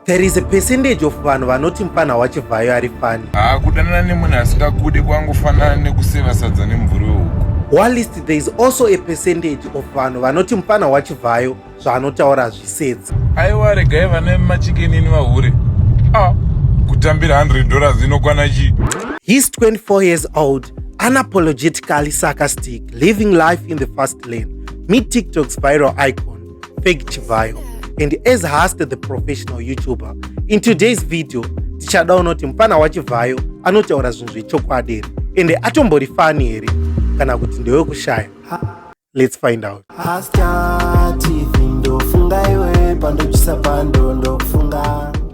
There is a percentage of vanhu vanoti mfana wachivhayo ari fani. Ah, kudanana nemunhu asingakude kwangofanana nekuseva sadza nemvuri wehuku. Whilst there is also a percentage of vanhu vanoti mfana wachivhayo zvaanotaura hazvisedzi. Aiwa regai vana vemachikenini vahure. Ah, kutambira 100 dollars inokwana chii? He's 24 years old, unapologetically sarcastic, living life in the fast lane. Meet TikTok's viral icon. Fake Chivhayo and as Hast the professional YouTuber in today's video tichada unoti mfana waChivhayo anotaura zvinhu zvechokwadi here ende atombori fani here kana kuti ndewekushaya let's find out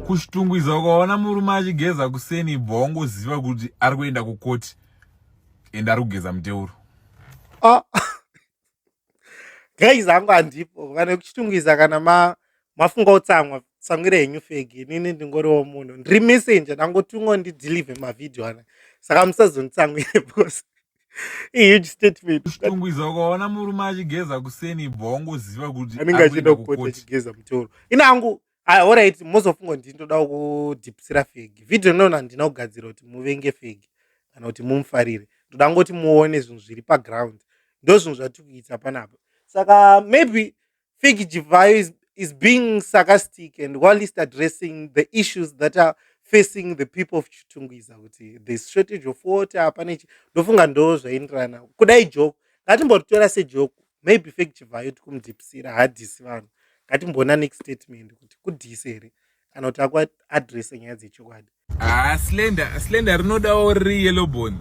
kushitungwiza ukaona murume achigeza kuseni ibva wangoziva kuti ari kuenda kukoti ende ari kugeza muteuro ah, guys hangu handipo vane kuchitungwiza kana ma mafunga utsamwa tsangwira henyu fegi inini ndingoriwo munhu ndiri messenger dangotungo ndidelive mavhidhio ana saka musazonditsangwire bcause ihuge statement kutungwiza ukaona murume achigeza kuseni ibva wangoziva kuti anenge achienda kupota achigeza mutoro ini hangu ah, orit mozofunga kuti ndinodawo kudhipsira fegi vhidhiyo ndinoona handina kugadzira kuti muvenge fegi kana kuti mumufarire ndoda ngoti muone zvinhu zviri paground ndo zvinhu zvatiri kuita panapa saka maybe fegi jivayo is, is being sarcastic and while least addressing the issues that are facing the people of chitungwiza kuti thereis shortage of water pane chi ndofunga ndo zvaindirana kudai joko ngatimbotitora sejoko maybe fake chivhayo tikumudzipisira haadhisi vanhu ngatimboona next statement kuti kudhisi here kana kuti akuadrese nyaya dzechokwadi ah, slender slender rinodawo riri yellow bone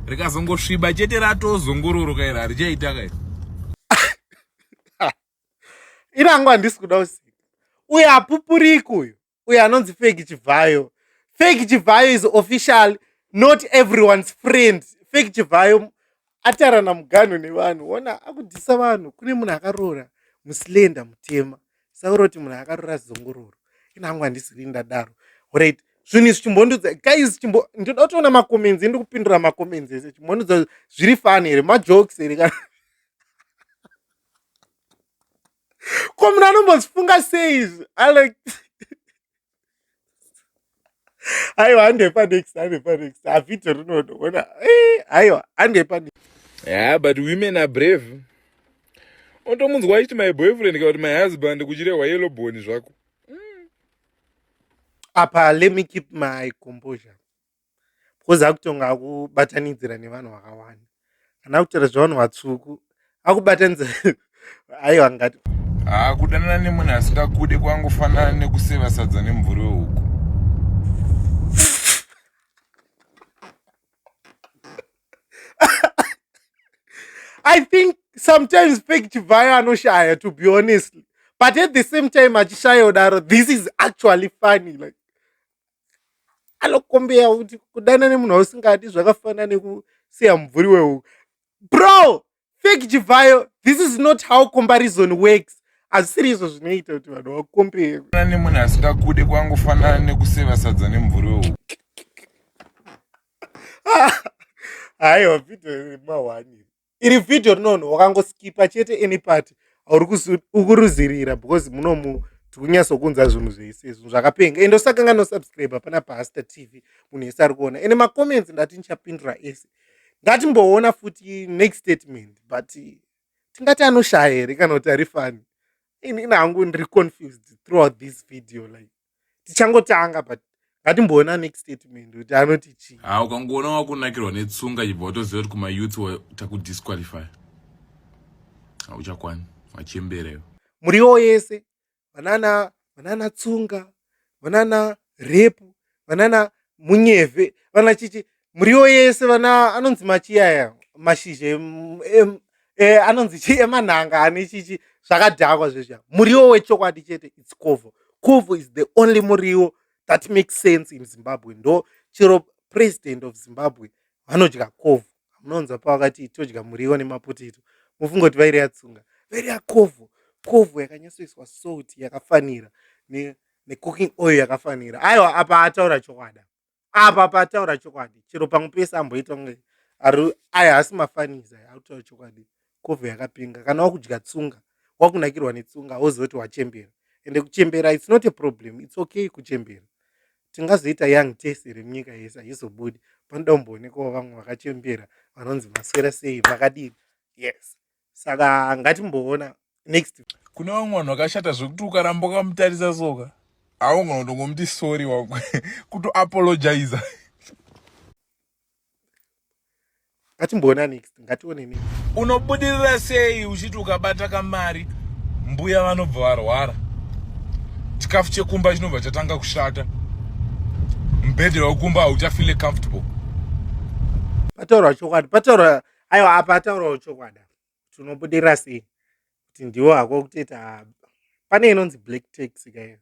rikazongosviba chete ratozongororoka iri harichaita kai irangu handisi kuda usika uyo apupuriki uyo uyo anonzi fake chivhayo fake chivhayo is official not everyone's friend fake chivhayo atarana muganho nevanhu ona akudhisa vanhu kune munhu akaroora muslenda mutema sauro kuti munhu akaroora zongororo inangu handisiri ndadaro right zvinhu izvi chimbondudza guys chimbo ndinoda kutoona macomments ndi kupindura macomments ese chimbondudza zviri fani here majokes here kana ko munhu anombozifunga sei izvi alek aiwa handepa next handepa next avhidho rinodoona eh, aiwa handepa next yeah but women are brave otomunzwa achiti my boyfriend kana kuti my husband kuchirehwa yellow bone zvako apa let me keep my composure because akutonga akubatanidzira nevanhu vakawanda kana kutaura zvevanhu vatsvuku akubatanidza aiwa ngati haa kudanana nemunhu asingakude kwangofanana nekuseva sadza nemvuri wehuku i think sometimes fake chivhayo anoshaya to be honestly but at the same time achishaya udaro this is actually funny like anokombeya kuti kudana nemunhu wausingadi zvakafanana nekusiya mubvuri wehuku bro fake chivhayo this is not how comparison works hazvisiri izvo zvinoita kuti vanhu vakombeya nemunhu asingakude kwangofanana nekuseva sadza nemubvuri wehuku haiwa vhidhiyo remahwaniri iri vhidhiyo rinonhu wakangoskipa chete any party aukuruzirira because munomu tikunyatsokunza zvinhu zvese izvi zvakapenga ende usakanga nosubscribe pana paster tv munhu yese ari kuona ende macomments ndati ndichapindura ese ngatimboona futi next statement but tingati anoshaya here kana kuti ari fani inini hangu ndiri confused throughout this video like tichangotanga but ngatimboona next statement kuti anoti chii ha ah, ukangoona wakunakirwa netsunga chibva watoziva kuti kumayouth takudisqualify hauchakwani wachembereyo muriwo yese vanana vanana tsunga vanana repu vanana munyevhe vana chichi muriwo yese vana anonzi machiyaya mashizha e, anonzi chii emanhanga ane chichi zvakadhakwa zvezva muriwo wechokwadi chete its covo covo is the only muriwo that makes sense in zimbabwe ndo chero president of zimbabwe vanodya covo munonzwa pavakati todya muriwo nemapotito mufunga kuti vairi yatsunga vairi yakovo kovo yakanyasoiswa salt yakafanira necooking ne oil yakafanira aiwa apa ataura chokwadi apa pataura chokwadi chero pamwe pese amboita kunge ari aya haasi mafaniza autaura chokwadi kove yakapinga kana wakudya tsunga wakunakirwa netsunga woziva kuti wachembera ende kuchembera its not a problem its okay kuchembera tingazoita young tese remunyika yese haizobudi panoda kumboonekwawo vamwe vakachembera vanonzi maswera sei vakadini yes saka ngatimboona next kune vamwe vanhu vakashata zvekuti ukaramba ukamutarisa soka aungana kutongomuti sorry wako kutoapologiza ngatimboona next ngatione next unobudirira sei uchiti ukabata kamari mbuya vanobva varwara chikafu chekumba chinobva chatanga kushata mubhedhe wekumba hauchafile comfortable pataura chokwadi pataura aiwa apa ataurawo chokwada tinobudirira sei kuti ndiwo hako kuteta pane inonzi black tax kayo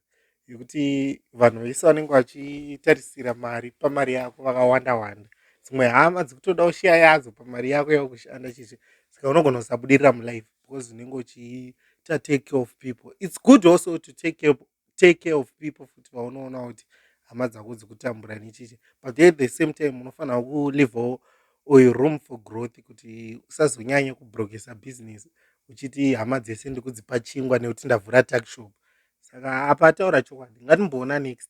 yekuti vanhu vese vanenge vachitarisira mari pamari yako vakawanda wanda dzimwe hama dzikutoda kushiya yadzo pamari yako yakushanda chichi saka unogona kusabudirira mulife because unenge uchiita take care of people its good also to take care take care of people futi vaunoona kuti hama dzako dzikutambura nechichi but at the same time unofanira kulivawo uyu room for growth kuti usazonyanye kubrokesa business uchiti hama dzese ndikudzipa chingwa nekuti ndavhura takshop saka apa ataura chokwadi ngatimboona next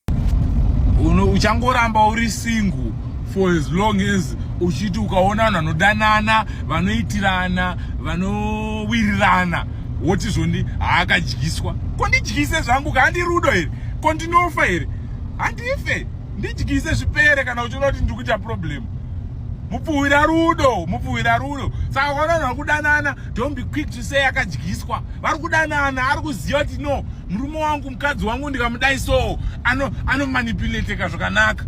uchangoramba uri single for as long as uchiti ukaona vanhu vanodanana vanoitirana vanowirirana woti zvondi haakadyiswa ko ndidyise zvangu ka handi rudo here ko ndinofa here handife ndidyise zvipere kana uchiona kuti ndiri kuita problem mupfuhwira rudo mupfuhwira rudo saka vana vari kudanana don't be quick to say akadyiswa vari kudanana ari kuziva kuti no murume wangu mukadzi wangu ndikamudai so anomanipulateka zvakanaka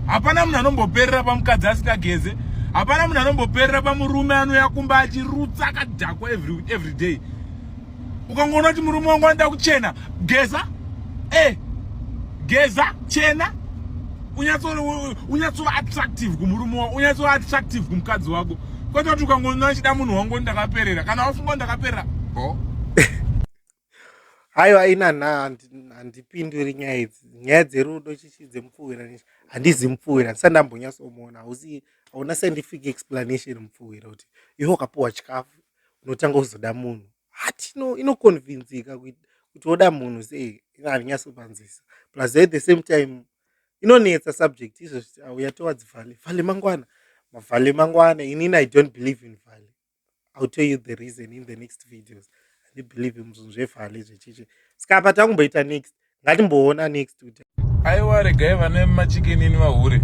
hapana munhu anomboperera pamukadzi asingageze hapana munhu anomboperera pamurume anouya kumba achirutsa akadhakwa every, every day ukangoona kuti murume wangu anoda kuchena geza e eh, geza chena unyatsova attractive kumurume wako unyatsova attractive kumukadzi wako kwete kuti ukangoona achida munhu wangu ndakaperera kana wafunga ndakaperera bo haiwa ina nha handipinduri nyaya idzi nyaya dzerudo chichi dzemupfuhwira nechi handizi mupfuhwira ndisati ndambonyatsomuona hausi hauna scientific explanation mupfuhwira kuti iwe wakapuwa chikafu unotanga kuzoda munhu hati no inokonvinzika kuti woda munhu sei ina handinyatsopanzisa plus at the same time inonetsa subject izvozvi auya towards vale vale mangwana mavale mangwana inini i don't believe in vale I'll tell you the reason in the next videos handibelieve muzvinhu zvevhale zvechichi ska apa takumboita next ngatimboona next kuti aiwa regai vane machikenini vahure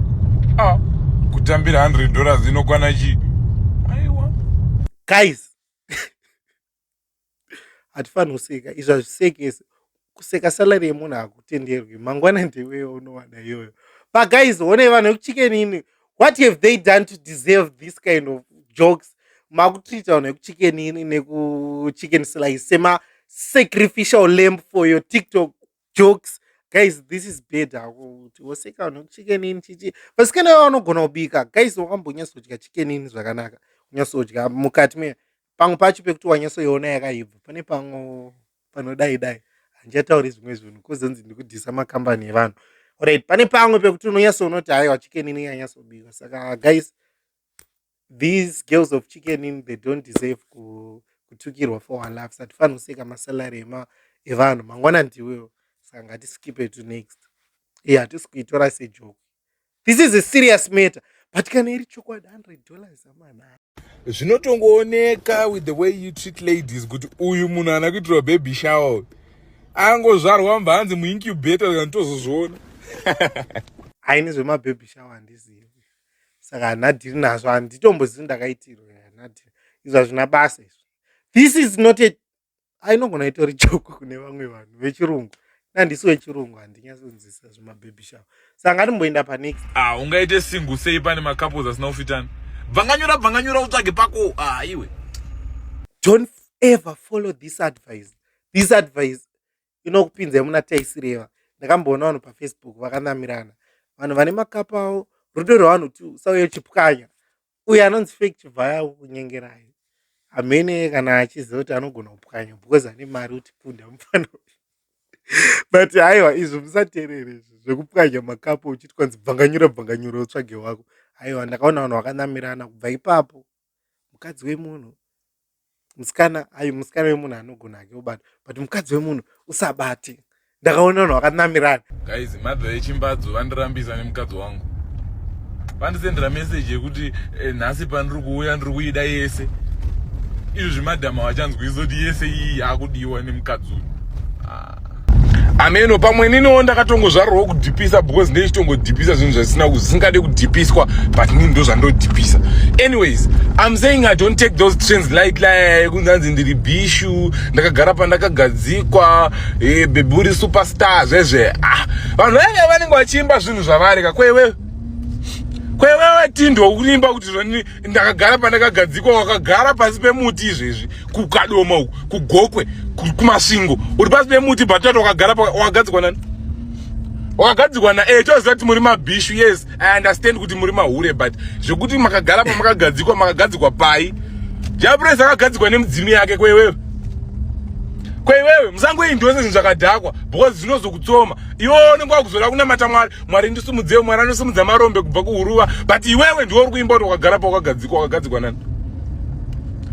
a ah, kutambira 100 dollars inokwana chii aiwa guys hatifanhi kuseka izvi hazvisekesi kuseka salary yemunhu hakutenderwi mangwana ndeweyo unowana iyoyo pagaiz honei vanhu vekuchikenini what have they done to deserve this kind of jokes makutreata vanhu vekuchikenini nekuchiken slice sema sacrificial lamp for your tiktok jokes guys this is bad hako kuti woseka vanhu chicken in chichi vasikana vavo vanogona kubika guys wakambonyatsodya chicken in zvakanaka unyatsodya mukati me pamwe pacho pekuti wanyatsoiona yakaibva pane pamwe panodai dai handichatauri zvimwe zvinhu kozonzi ndikudhisa makambani evanhu orit pane pamwe pekuti unonyatsoona kuti haiwa chicken in yanyatsobika saka guys these girls of chicken in they don't deserve kutukirwa for our laughs hatifanhi kuseka masalary evanhu mangwana ndiwewo saka ngatiskipe to next iye hatisi kuitora sejoko this is a serious matter but kana iri chokwadi 100 dollars amanaa zvinotongooneka with the way you treat ladies kuti uyu munhu ana kuitirwa baby shower angozvarwa mva hanzi muincubator kana tozozviona haini zvemababy shower handizivi saka hanadhiri nazvo handitombozivi ndakaitirwa hanadhiri izvo hazvina basa izvo this is not a ainogona itori joko kune vamwe vanhu vechirungu nandisi wechirungu handinyasonzisa zvemabhebhi shavo saka ngatimboenda panex ah, ungaite singu sei pane macouples asina kufitana bvanganyura bvanganyura utsvage pako ah, iwe don't ever follow this advice this advice inokupinzai muna taisireva ndakamboona vanhu pafacebook vakanamirana vanhu vane makapa avo rudo rwevanhu ti usauye uchipwanya uye anonzi fake chivhaya kunyengerai hamene kana achiziva kuti anogona kupwanya because ane mari kuti punda mufana but haiwa izvi musaterere izvi zvekupwanya makapa uchiti kwanzi bvanganyura bvanganyura utsvage wako haiwa ndakaona vanhu vakanamirana kubva ipapo mukadzi wemunhu musikana ayi musikana wemunhu anogona hake obata but mukadzi wemunhu usabate ndakaona vanhu vakanamirana guys mother yechimbadzo vandirambisa nemukadzi wangu vandisendera meseji yekuti eh, nhasi pandiri kuuya ndiri kuida yese izvi zvimadhama vachanzwisisa kuti yese iyi yakudiwa nemukadzi uyu ah. ameno pamwe niniwo ndakatongozvarwawo kudhipisa because ndeichitongodhipisa zvinhu zvisina zvisingade kudhipiswa but nini ndo zvandodhipisa anyways im saying i don't take those trends light lie kunzi anzi ndiri bishu ndakagara pandakagadzikwa eh, bebi uri superstar zvezve ah vanhu vainge vanenge vachiimba zvinhu zvavari ka kwewe kwewewe tindwa kuimba kuti zvani ndakagara pandakagadzikwa wakagara pasi pemuti izvezvi kukadoma uku kugokwe kumasvingo uri pasi pemuti bhatata wakagara wakagadzikwa nani wakagadzikwa na eh toziva kuti muri mabhishu yes i understand kuti muri mahure but zvekuti makagara pamakagadzikwa makagadzikwa pai japres akagadzikwa nemudzimu yake kwewewe kweiwewe musangoendi wese zvinhu zvakadhakwa because zvinozokutsoma iwe unenge wakuzoda kunamata mwari mwari ndisumudzei mwari anosumudza marombe kubva kuhuruva but iwewe ndiwe uri kuimba kuti wakagara pawakagadzikwa wakagadzikwa nani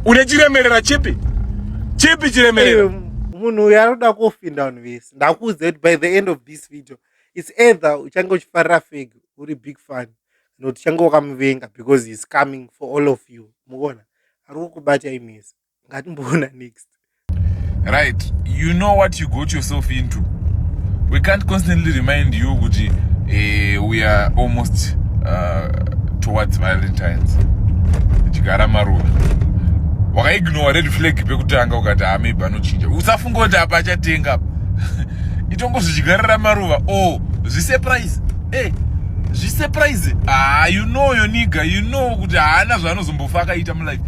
une chiremerera chipi chipi chiremerera eh, munhu uyu anoda kufinda vanhu vese ndakuudza kuti by the end of this video its either uchange uchifarira feg uri big fan not uchange wakamuvenga because heis coming for all of you muona ari kukubatai mese ngatimboona next right you know what you got yourself into we can't constantly remind you kuti uh, we are almost uh, towards valentines chigara maruva wakaignowa red flag pekutanga ukati amaybe ah, anochinja usafunga kuti apa achatenga itongo zvichigarira maruva o oh, zvisurprise e eh, zvisurprise haa ah, you know yoniga you know kuti haana zvaanozombofa akaita mulife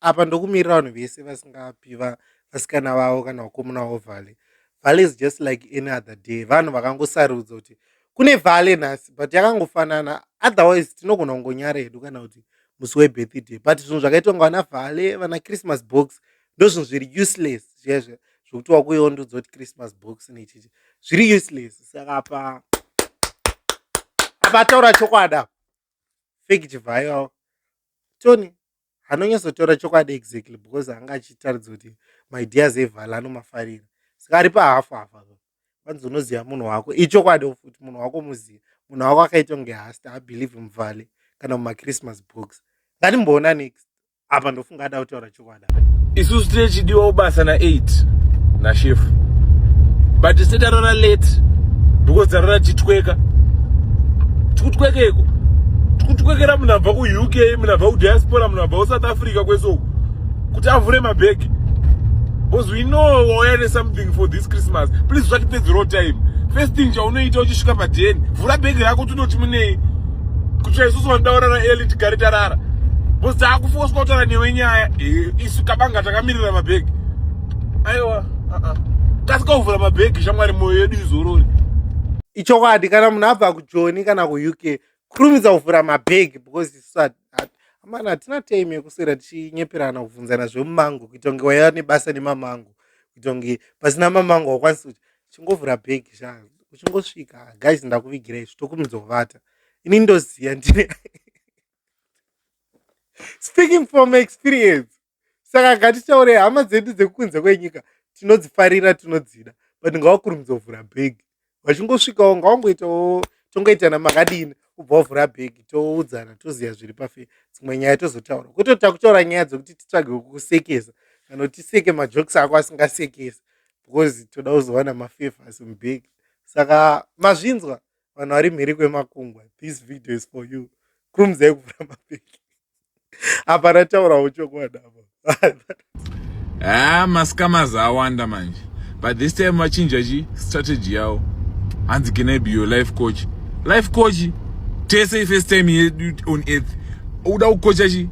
apa ndokumirira vanhu vese vasingapi vasikana vavo kana vakomuna vavo vale vale is just like any other day vanhu vakangosarudza kuti kune vale nhasi but yakangofanana otherwise tinogona kungonyara hedu kana kuti musi webirthday but zvinhu zvakaitwa nga vana vale vana christmas box ndozvinhu zviri useless zvezve zvekuti wakuiwo ndudzi kuti christmas box nechichi zviri useless saka apa apa ataura chokwadi apa fake chivhayo tony anonyatsotaura chokwadi exactly because anga achitaridza kuti maideas evala anomafarira saka ari pahafu hafu apa kwanzi unoziva munhu wako ichokwadi futi munhu wako muziva munhu wako akaita kunge hasta abelieve muvale kana mumachristmas box ngatimboona next apa ndofunga ada kutaura chokwadi isusu tinechidiwa ubasa na8 nashefu but tese tarora late because tarora titweka tikutwekeko tikutwekera munhu abva kuuk munhu abva kudiaspora munhu abva kusouth africa kwese uku kuti avhure mabhegi because we know wauya nesomething for this christmas please usatipedzerawo time first thing chaunoita uchisvika padheni vhura bhegi rako tinoti munei kutsva isusu vandaurara eli tigare tarara because taakufoswa kutaura newe nyaya eh, isu kabanga takamirira mabhegi aiwa uh-uh. kasika kuvhura mabhegi shamwari mwoyo yedu izorori ichokwadi kana munhu abva kujoni kana kuuk kurumidza kuvhura mabhegi because isat amana hatina time yekuswera tichinyeperana kubvunzana zvemumango kuita kunge waiva nebasa nemamango kuita kunge pasina mamango wakwanisa kuti chingovhura bhegi sha uchingosvika guys ndakuvigira izvi tokurumidza kuvata ini ndoziva ndine speaking from experience saka ngatitaurei hama dzedu dzekunze kwenyika tinodzifarira tinodzida but ngavakurumidza kuvhura bhegi vachingosvikawo ngawangoitawo tongoitana makadini kubva wavhura bhegi toudzana toziva zviri pafe dzimwe nyaya tozotaura kwete takutaura nyaya dzekuti titsvage kukusekesa kana kuti tiseke majokes ako asingasekesi because toda kuzowana mafavors mubhegi saka mazvinzwa vanhu vari mhiri kwemakungwa this video is for you krumzai kuvhura mapeki apa rataurawo chokwadi apa ah, mascamas awanda manje but this time vachinja chi strategy yavo hanzi genebi yo life coach life coach tese ifirst time yedu on earth uda kukocha chi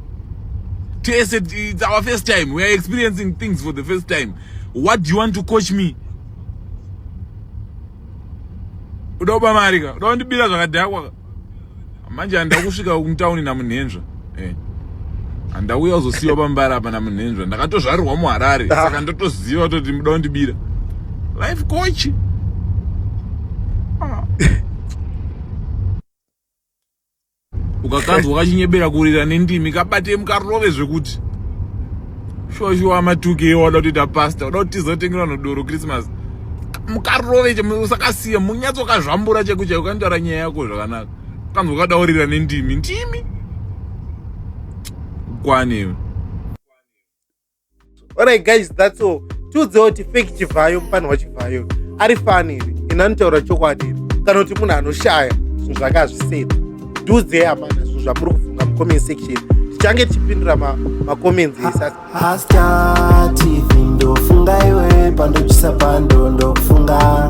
tese it's our first time we are experiencing things for the first time what do you want to coach me uda kuba mari ka uda kundibira zvakadhakwa ka manje handida kusvika kumutauni namunhenzva eh. handauya uzosiyiwa pambara apa namunhenzva ndakatozvarirwa muharare ah. saka ndotoziva kutoti muda kundibira life coach ah. ukakanzwa kachinyebera kurira nendimi kabate mukarove zvekuti shuwa shuwa matuke wada kutoita pasta uda kuti tizotengerwa nodoro christmas mukarove che usakasiya munyatsokazvambura chaiku chaiku kanotaura nyaya yako zvakanaka kanzwa kadaurira nendimi ndimi kwane alright guys that's all tiudzewo kuti fake chivhayo mufani wachivhayo ari fani iri ini anotaura chokwadi iri kana kuti munhu anoshaya zvinhu zvake azviseti tiudzei amana zvinhu zvamuri kufunga mucomment section tichange tichipindura macomments ese asati ndofunga iwe pandochisa pando ndokufunga